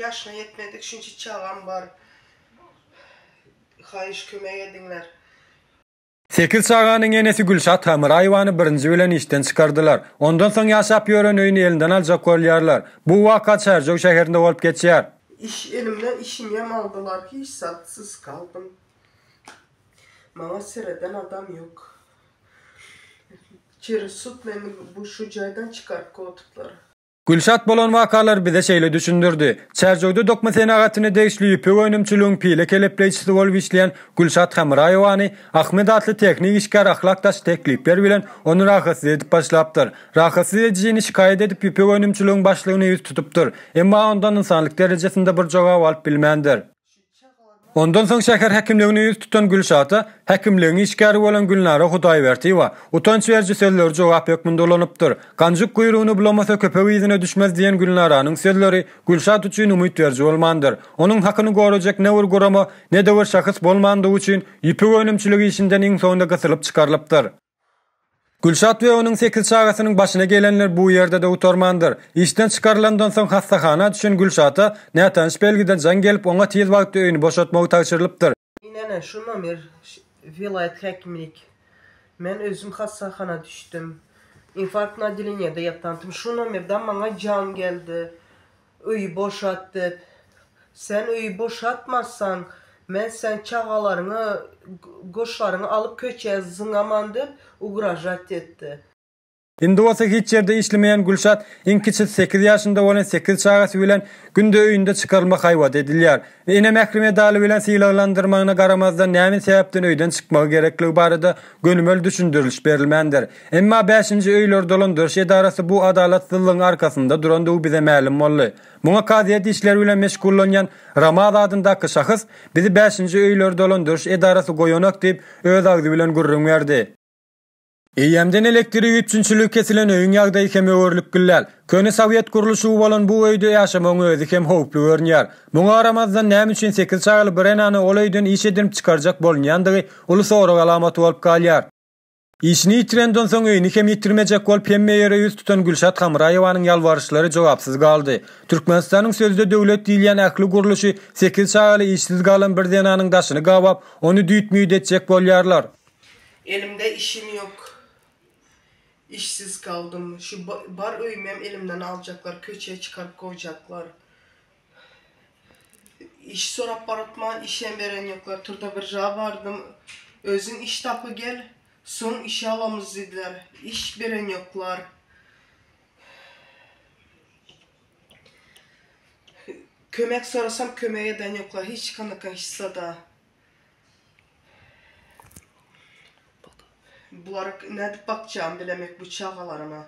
yaşına yetmedik şunçi çagam bar. Haýyş kömek ediňler. Sekiz çaganyň enesi Gülşat Hamyraýewany birinji bilen işden çykardylar. Ondan soň ýaşap ýören öýüni elinden aljak bolýarlar. Bu waka Çärjew şäherinde bolup geçýär. Iş elimden işimem aldylar, hiç zatsyz galdym. Maňa sereden adam ýok. Çeris tut meni bu şu jaýdan çykar kotuklary. Gülşat bolan wakalar bize şeýle düşündirdi. Çärjewde dokma senagatyna degişli ýüpek önümçiligiň pile kelepleýjisi bolup işleýän Gülşat Hamraýewany Ahmet atly tehnik işgär ahlak daşy teklipler bilen ony rahatsyz edip başlapdyr. Rahatsyz edijini şikaýat edip ýüpek önümçiligiň başlygyna ýüz tutupdyr. Emma ondan ynsanlyk derejesinde bir jogap alyp bilmändir. Ondan soň şäher häkimligine ýüz tutan Gülşata häkimligiň işgäri bolan Gülnara Hudaýberdiýewa utanç beriji sözleri jogap hökmünde ulanypdyr. Ganjyk guýrugyny bulamasa köpek yzyna düşmez diýen Gülnaranyň sözleri Gülşat üçin umyt beriji bolmandyr. Onuň hakyny gorajak ne bir gurama, ne-de bir şahys bolmandygy üçin ýüpek önümçiligi işinden iň soňunda gysylyp çykarylypdyr. Gülşat we onuň sekiz çagasynyň başyna gelenler bu ýerde-de gutarmandyr. Işden çykarylandan soň hassahana düşen Gülşata nätanyş belgiden jaň gelip, oňa tiz wagtda öýüni boşatmagy tabşyrylypdyr. Ine-ne, şu nomer, welaýat häkimlik. Men özüm hassahana düşdüm. Infarktny odeleniýede ýatandym. Şu nomerdem maňa jaň geldi. Öýi boşat diýip, sen öýi boşatmazsaň, men seň çagalaryňy, guşlaryňy alyp köçä zyňaman diýip, ugražat etdi. Indi bolsa hiç ýerde işlemeýän Gülşat iň kiçisi sekiz ýaşynda bolan sekiz çagasy bilen günde öýünde çykarylma haýbat edilýär we ene mähri medaly bilen sylaglandyrmagyna garamazdan näme sebäpden öýden çykmagy gerekligi barada gönümel düşündiriliş berilmändir. Emma bäşinji öýleri dolandyryş edarasy bu adalatsyzlygyň arkasynda durandygy bize mälim boldy. Muňa kazyýet işleri bilen meşgullanýan Ramaz adyndaky şahys bizi bäşinji öýleri dolandyryş edarasy goýanak diýip, öz agzy bilen gürrüň berdi. Eýýämden elektrigi üpjünçiligi kesilen öýüň ýagdaýy hem öwerlikgil däl. Köne sowet gurluşygy bolan bu öýde ýaşamagyň özi hem howply görünýär. Muňa garamazdan näme üçin sekiz çagaly bir enany ol öýden iş edinip çykarjak bolunýandygy uly sorag alamaty bolup galýar. Işini ýitirenden soň öýüni hem ýitirmejek bolup hemme ýere ýüz tutan Gülşat Hamraýewanyň ýalbaryşlary jogapsyz galdy. Türkmenistanyň sözde döwlet diýilýän ähli gurluşy sekiz çagaly işsiz galan bir zenanyň daşyny gabap, ony düýt-müýt etjek bolýarlar. Elimde işim ýok. Işsiz galdym. Şu bar öýümem elimden aljaklar, köçä çykaryp goýjaklar. Iş sorap baratman işem beren ýoklar. Turda bir ja bardym. Özüň iş tapy gel, soň işe alamyz diýdiler. Iş beren ýoklar. Kömek sorasam kömek eden ýoklar. Hiç kanakan hissada. Bulary nädip bakjagym bilemek bu çagalaryma.